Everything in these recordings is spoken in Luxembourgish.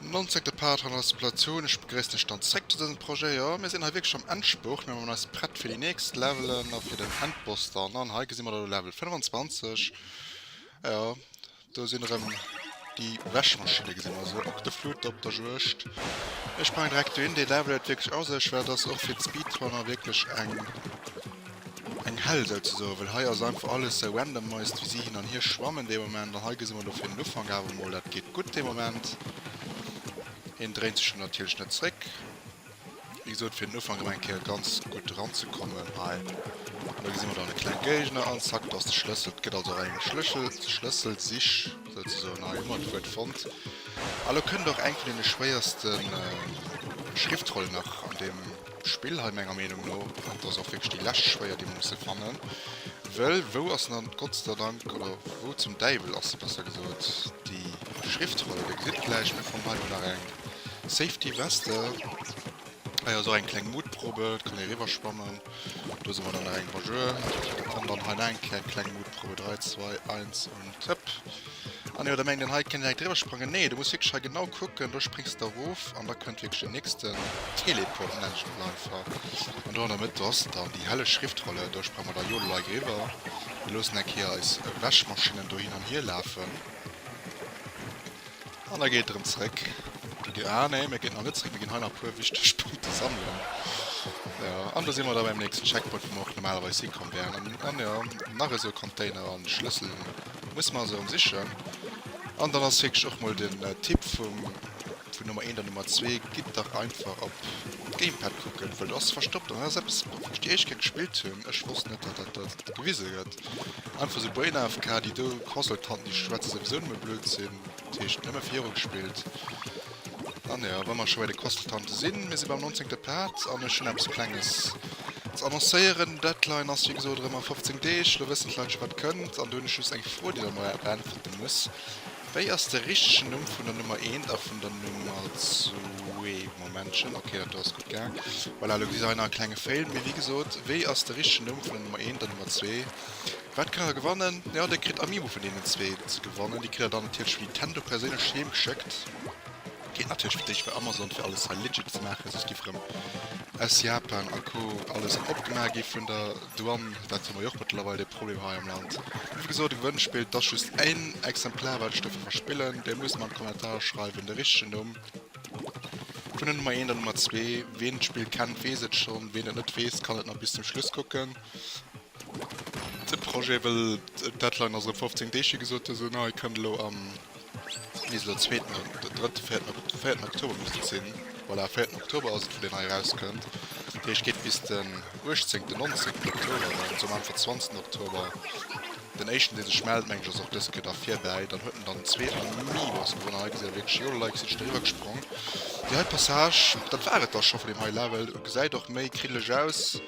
Non seguit part an der Spekulation. Ech begréissen iech dann zréck zu dësem Projet. Jo, mir sinn hei wierklech am Endspurt. Mir man eis prett fir déi nächst Levelen a fir den Endboss dann. An hei gesi mer da elo Level 25. Jo, Do sinn erëm déi Wäschmaschinne, gesinn mer se, Octoflute op der Juegd. Ech packen direkt dohin, deen Level huet wierklech a sech, well dat ass och fir d'Speedrunner wierklech eng eng Hell souzesoen, well hei ass einfach alles sou randomized, wéi si hin an hier schwammen dee Moment. An hei gesi mer elo fir den Ufank awer mol, dat geet gutt dee Moment, hien dréint sech elo natierlech net zréck. Wéi gesot fir den Ufank emmer eng Kéier ganz gutt eran ze kommen hei. An do gesi mer dann e kleng Géigner an zack, do ass de Schlëssel. Et gëtt also och eng Schlëssel, Schlësselsich souzesoen hei, hu mer d'Wuert fonnt. A lo kënnt och eng vun deene schwéierste Schriftrollen nach an deem Spill hei menger Meenung no. An et ass och wierklech déi lescht schwéier déi mer musse fannen, wëll wou ass dann gottsderdank, oder wou zum Däiwel ass se besser gesot, déi Schriftroll? Der gesitt gläich, mir fannen hei emol nach eng. Safety Weste. Ah jo, sou eng kleng Mutprobe, et kann ee eriwwer schwammen. Do si mer dann nach eng Bonjour. An dann hei nach eng Kéier eng kleng Mutprobe, 3, 2, 1 und hëpp. Ah nee, oder mengt een hei kéint een direkt driwwer sprangen? Nee, du muss wierklech hei genau kucken, do springs de erof an da kënnt wierklech den nächsten Teleport, nennt ech et mol einfach. An do an der Mëtt, do ass dann déi helleg Schriftrolle, do sprange mer da jo elo hei driwwer. Mir loossen eng Kéier eis Wäschmaschinnen do hin an hier lafen. An da geet et erëm zeréck op de Départ. Ah nee, mir ginn nach net zeréck, mir ginn hei nach e puer wichteg Punkte sammelen. Jo, an do si mer da beim nächsten Checkpoint, wou mer och normalerweis hikomm wären. An, an jo, nach esou e Container an de Schlëssel muss mer also erëm sichen. An dann ass wierklech och mol den Tipp vum, vun Nummer 1 an Nummer 2, Gitt dach einfach op d'Gamepad kucken, well do ass se verstoppt. An dat ass eppes, wou ech déi éischt Kéier gespillt hunn, ech wosst net, datt dat do gewise gëtt. Einfach sou Brain AFK, déi do Consultanten déi schwätzen souwisou nëmme Blödsinn, dat heescht nëmme viru gespillt. An jo, wa mer scho bei de Consultanten sinn, mir si beim nonzéngte Part an ech hunn eppes Klenges ze annoncéieren. Deadline ass wéi gesot erëm a 15 Deeg, lo wëssen d'Leit scho wat kënnt an do hunn ech just eng Fro déi der mei beäntwerte muss, Wéi ass de richtegen Numm vun der Nummer eent a vun der Nummer zwee? Momentchen, ok, dat do ass gutt gaang. Voilà, elo gesi se hei nach e klenge Fail, mee wéi gesot, wéi ass de richtegen Numm vun der Nummer eent an Nummer zwee? Wat kënnt der da gewannen? Jo, dir kritt Amiibo vun deenen zwee ze gewannen. Déi kritt der dann natierlech vun Nintendo perséinlech heem geschéckt. Geet natierlech fir d'éischt bei Amazon, fir alles hei legit ze maachen, soss géif erëm aus Japan a Co alles opgemaach gi vun der Du an dat hu mer jo och mëttlerweil dee Problem hei am Land. Wéi gesot, e Gewënnspill, t'ass just en Exemplar wat ech dofir verspillen. Dir musst mer an d'Kommentare schreiwen de richtegen Numm vun der Nummer 1 an Nummer 2. Ween d'Spill kennt weess et schonn, ween et net weess kann et nach bis zum Schluss kucken. De Projet wëll d'Deadline ass erëm 15 Deeg wéi gesot, dësen hei kënnt elo am Mee esou der zweeten an der drëtt véierten op véierten Oktober misst et sinn. Voilà, véierten Oktober ass et, wou déi nei erauskënnt. Dat heescht, geet bis den uechtzéngten, nonzéngten Oktober an esou am Anfang zwanzegten Oktober. Den éischten, dee sech mellt, meng ech, ass och dës Kéier da virbäi. Dann huet en dann zwee a mi Woche gewonnen. Hei gesäit ee wierklech Jol, Leit si sech driwwer gesprong. Déi hei Passage, dat war et da scho vun deem hei Level. Gesäit och méi kriddeleg aus.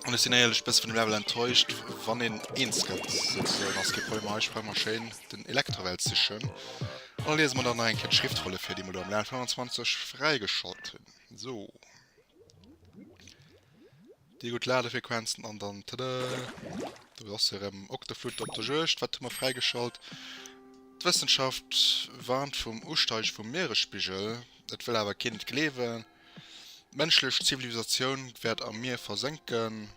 An ech sinn éierlech bësse vun dem Level enttäuscht, wann een eens gëtt, souzesoen. Ass kee Problem, hei sprange mer schéin den Electrawell sichen. An da liese mer dann nach eng Kéier d'Schriftfolie vir, déi mer do am Level 25 fräigeschalt hunn. Sou. Déi gutt Ladefrequenzen an dann, tada, do ass se erëm, Octoflute op der Juegd. Wat hu mer fräigeschalt? D'Wëssenschaft warnt vum Usteige vum Mieresspigel, et wëll awer keen et gleewen. D'mënschlech Zivilisatioun wäert am Mier versénken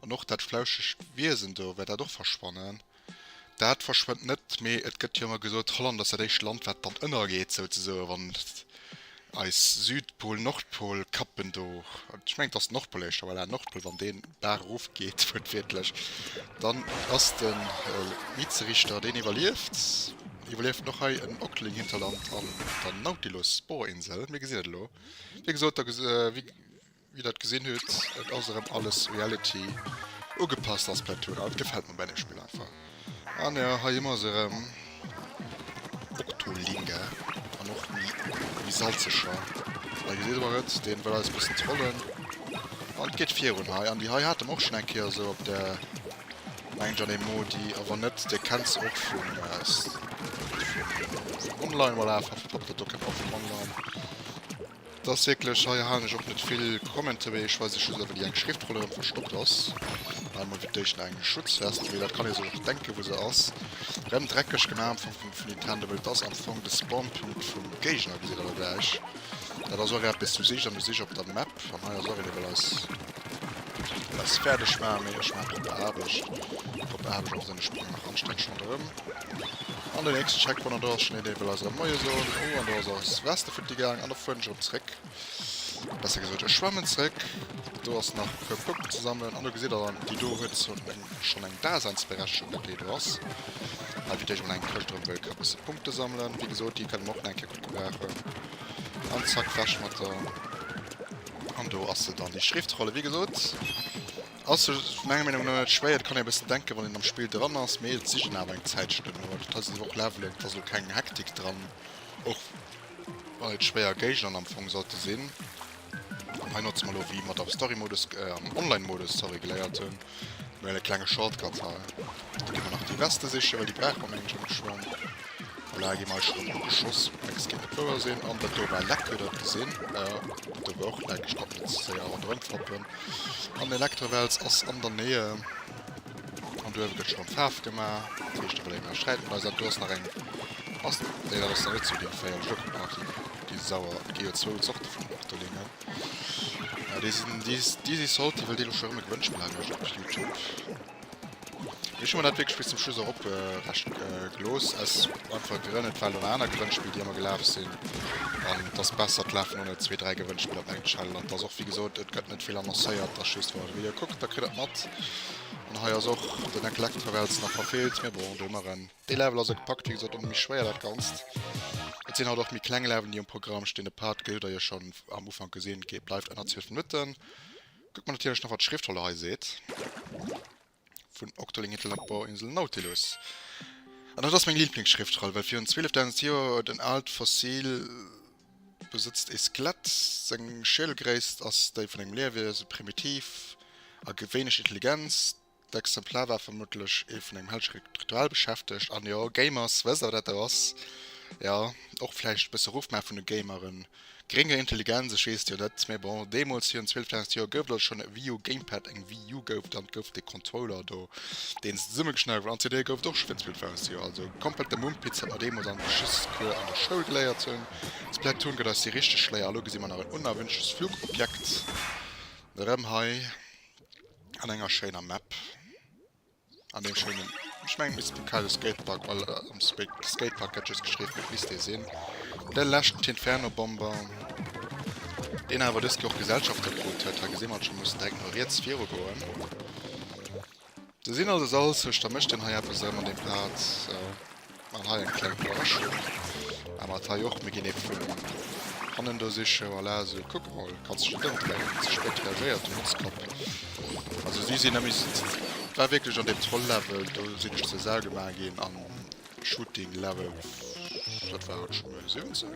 an och dat flauschegt Wiesen do wäert dat och verschwannen. Dat verschwënnt net, mee et gëtt jo ëmmer gesot, Holland ass dat éischt Land, wat dann ënnergeet souzesoen, wann eis Südpol, Nordpol, Kappen do, ech mengen et ass den Nordpol éischter, voilà, Nordpol, wann deen d'Baach erofgeet, wuertwiertlech, dann ass de Mietzerichter, deen iwwerlieft. Iwwerlieft och hei en Octling Hinterland an der Nautilus Sporinsel? Mir gesinn et elo. Wéi gesot da wéi Dir dat gesinn hutt, et ass erëm alles Reality ugepasst a Splatoon. An et gefält mer bei deem Spill einfach. An jo, hei hu mer se erëm, Octolinga an och déi méi salzeger. Hei gesitt mer et, dee wëll eis e bëssen trollen. An et geet virun hei. An déi hei hate mer och schonn eng Kéier esou op der. Mengt an ee Modi a wann net dir kennt se och vun online voilà einfach verpackt dat do kennt och vun online dass wierklech hei halen ech och net vill Commenten wéi ech weis ech just ewell déi eng Schriftroll erëm verstoppt ass hei mol fir d'éischt eng Schutzvest mee dat kann ee sech och denken wou se ass rëm dreckeg gemaach am Fong vun Nintendo well et ass am Fong de Spawnpunkt vum Géigner gesitt dat ass och eppes du sichs an du sichs op der Map an hei ass och een dee well eis Dass se fäerdeg war, mee ech maachen op Aarbecht. Op Aarbecht ass en Sprong nach Anstännchen erëm. An den nächsten Checkpoint, an do ass schon een, deen wëll eis erëm Moie soen. Oh, an do ass eis Weste futti gaang, an da fueren ech erëm zréck. Besser gesot, ech schwammen zréck. Do ass nach e puer Punkten ze sammelen, an do gesitt der dann, déi do huet schon eng Daseinsberechtigung, dat déi do ass. Hei wiert ech mol eng Këscht erëm, wëll ka bësse Punkte sammelen. Wéi gesot, déi kënne mer och nach eng Kéier gutt gebrauchen. An zack, weg mat der. An do ass se dann, déi Schriftrolle. Wéi gesot ass se menger Meenung no net schwéier. Et kann een e bëssen denken, wann een am Spill dran ass, mee et sichen awer eng Zäit Stënn. Awer dat hei sinn elo och Levelen, et ass elo keng Hektik dran, och wann et schwéier Géigner am Fong sollte sinn. An hei notze mer elo, wéi mer et am Story-Modus, am Online-Modus, sorry, geléiert hunn, Well e klenge Shortcut hei. Da gi mer nach déi Veste siche, well déi brauche mer mengen ech am Geschwang. Voilà, gi mer eis rëm ugeschoss. Dacks géif et wouer sinn. An dat do war leck, huet Der et gesinn? Jo, dat do war och leck. Ech konnt net ze séier ronderëm fappen. An de Elektrowels ass an der Nähe. An do uewe gëtt scho rëm Faarf gemaach. Dat heescht, do wëll een nach Sträit mat eis an. Do ass nach eng. Ass. Nee, dat ass nach net zu Ligne 4. Ech elo kucken nach déi. Gi sauer. Gi jo zwou Zorte vun Octolingen. Ja déi sinn Dizzy Salty well deen elo scho rëm e Gewënnspill hei mécht op Youtube. Ech hu mer dat wierklech bis zum Schluss och op recht gelooss aus einfache Grënn, et waren nach aner Gewënnspill déi ëmmer gelaf sinn an et ass besser et lafen ëmmer zwee, dräi Gewënnspill op eng Challenge an et ass och wéi gesot et gëtt net vill annoncéiert, et ass just wann der de Video kuckt da kritt der et mat. An hei ass och den Intellectravels nach verfeelt mee bon do hu mer en. Dee Level ass e gepackt, wéi gesot och méi schwéier dat ganzt. Et sinn haut och méi kleng Levelen déi um Programm stinn. De Part gëtt et der jo schonn am Ufank gesinn, geet bleift ënner 12 Minutten. Kuckt mer natierlech nach wat d'Schriftrolle hei seet vun Octoling Hitler op Bauinsel Nautilus. An dat ass meng Lieblingsschriftroll, well virun 12.000 Joer huet en aalt Fossil besëtzt ee Skelett. Seng Schiedel-Gréisst ass déi vun engem Liewiese, primitiv a wéineg intelligent. D'Exemplar war vermuttlech ee vun engem hellgerige Ritual beschäftegt. An jo, Gamers, wësst der wat dat do ass? Jo, och vläicht e bësse Ruff maache vun de Gameren. Grénger Intelligenz, ech weess et jo net, mee bon, deemools virun 12.000 Joer gouf et also schonn e Wii U Gamepad, eng Wii U gouf et an et gouf dee Controller do, deen se zesummegeschneit huet an CD gouf et och scho virun 12.000 Joer. Also komplette Mumpitz, wat mer deemools am Geschichtscours an der Schoul geléiert hunn. Splatoon gëtt eis déi richteg Schléier, elo gesi mer nach en unerwünschtes Flugobjekt erëm hei. An enger schéiner Map. An deem schéinen, ech mengen misst den Kaiser Skatepark, well am Skatepark gett just geschriwwen, dat misst dee sinn. De leschten T'Inferno Bomber, deen awer dëst Joer och Gesellschafter krut huet. Hei gesi mer et scho, mussen direkt mol riets viru goen. Se sinn also salzeg, da mécht een hei eppes erëm an deem Part. An hei eng kleng Iwwerraschung. Awer mat hei och. Mir ginn ee vun hannen do sichen. Voilà, esou. Kuck emol, kanns de dech ëmdréien. Ze spéit reagéiert, du Motzkap. Also si sinn nëmme. Et war wierklech an deem Troll-Level. Do sinn ech zur Sau gemaach ginn. Am Shooting-Level, wat war et, Schummer 17?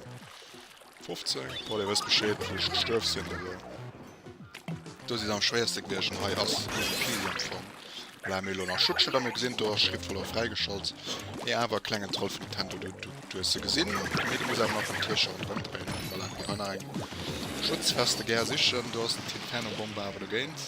15 bon dir wësst bescheed wou ech gestuerf sinn also do si se am schwéierste gewiechen hei ass easy peasy am fong voilà mee elo nach schuttche da mir gesinn do ass schritt verluer fräigeschalt mee awer klengen troll vun nintendo du du du hues se gesinn mee du muss awer nach den tiercher ronderëm dréinen an voilà do war nach eng schutzweste gär sichen do ass den tintenno bomber awer dogéint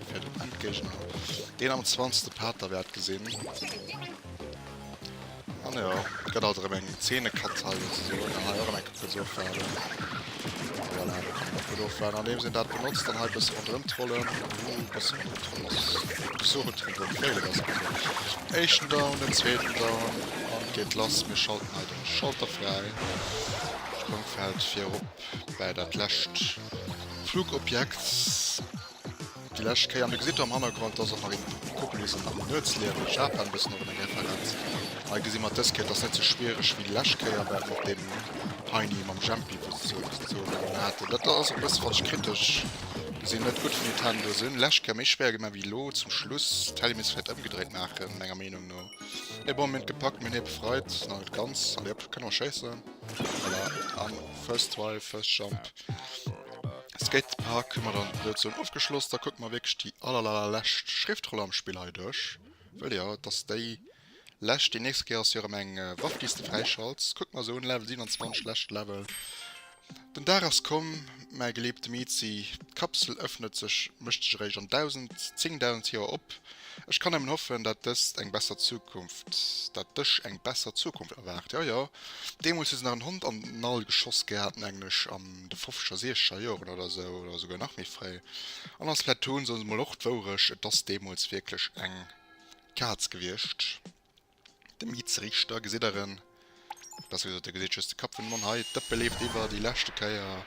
Fir den Endgéigner, deen am zwanzte Pater wäert gesinn. An jo, et gëtt alt erëm eng Zeenekatzhal souzesoen, an hei och erëm eng Kéier kuerz ofwaarden. A voilà, do kann een och gutt ofwaarden, andeems een dat benotzt, an hei e bësse ronderëm trollen. Huhu, e bësse ronderëm trollen ass esou gutt wéi beim Féilen, ass gutt. Den éischten down, den zweeten down, an et geet lass. Mir schalten hei de Schalter fräi. Sprëngfeld fir erop bei dat lescht Flugobjekt. Déi lescht Kéier, an do gesitt der am Hannergrond, dass och nach een Koppel bis an den Nuetsliicht duerch Japan bëssen op enger Referenz. Hei gesi mer, dës Kéier, dass net sou schwiereg wéi déi lescht Kéier war mat deem Heini mam Jempi, wou se ze ze doen haten. Dat ass e bësse, wann ech kritesch gesinn, net gutt vu Nintendo. Se hunn lescht Kéier méi schwéier gemaach wéi elo zum Schluss. D'Helly misst vläicht ëmgedréit maachen, menger Meenung no. Mee bon, mir hunn et gepackt, mir hunn hie befreit, nach net ganz. Allez op, kënne mer schéissen? Voilà, an first try, first jump. Skatepark hun mer dann Evolution ofgeschloss, da kucken mer wierklech déi allerallerlescht Schriftroll am Spill hei duerch, wëll jo et ass déi lescht, déi nächst Kéier ass jo erëm eng Waff déi's de fräischalts, kucken mer se un, Level 27, lescht Level, den Dag ass komm, mäi geliebte Mizi, d'Kapsel ëffnet sech, mécht sech eréischt an 1000, 10000 Joer op. Ech kann nemmen hoffen dat dest eng besser Zukunft, dat dech eng besser Zukunft erwaart. Jo jo, deemols hu se nach en Hond an den All geschoss gehat mengen ech an de fofzeger siechzeger Joeren oder esou oder souguer nach méi fréi. An als Platoon soen se mol och d'Wourecht, et ass deemols wierklech eng Kaatz gewiescht. De Miiz Risch, da gesitt der en. Besser gesot, der gesitt just de Kapp vun dem Mann hei. D'Ëppe leeft iwwer, déi leschte Kéier.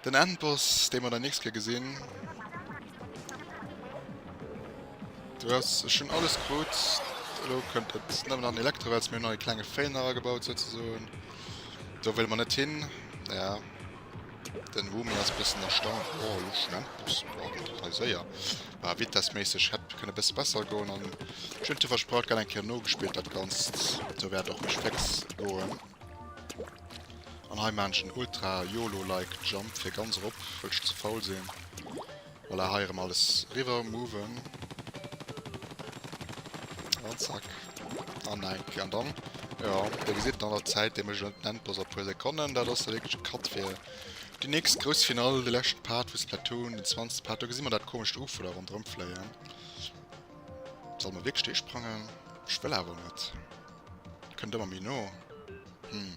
Den Endboss, dee mer dann nächst Kéier gesinn. Du ass, ech hunn alles krut. Elo kënnt et nëmmen an Elektrowels. Mir hunn hei e klenge Fail nach agebaut souzesoen. Do wëlle mer net hin. Ja. Den Woomy ass e bëssen erstaunt, Oh, elo schon Endboss? Boah, geet dat hei séier. Bah, vitessméisseg hätt kënne bësse besser goen. An ech hunn et him versprach, et gëtt eng Kéier nogespillt dat Ganzt. Sou wäert et och méi fléx goen. An hei maachen ech en Ultra-Yolo-like Jump fir ganz erop, wëll ech ze faul sinn. Voilà, hei erëm alles riwwer moven. An zack. An enk. An dann, jo, da gesitt et an der Zäit deemech en Enn dros a puer Sekonnen. Dat ass da wierklech e Cut fir déi nächst grouss Finall, de leschte Part vu Splatoon, den 20. Part. Do gesi mer dat komescht Ufo da ronderëm fléien. Solle mer wierklech do sprangen? Ech wëll awer net. Kënnt ëmmer méi no. Hm.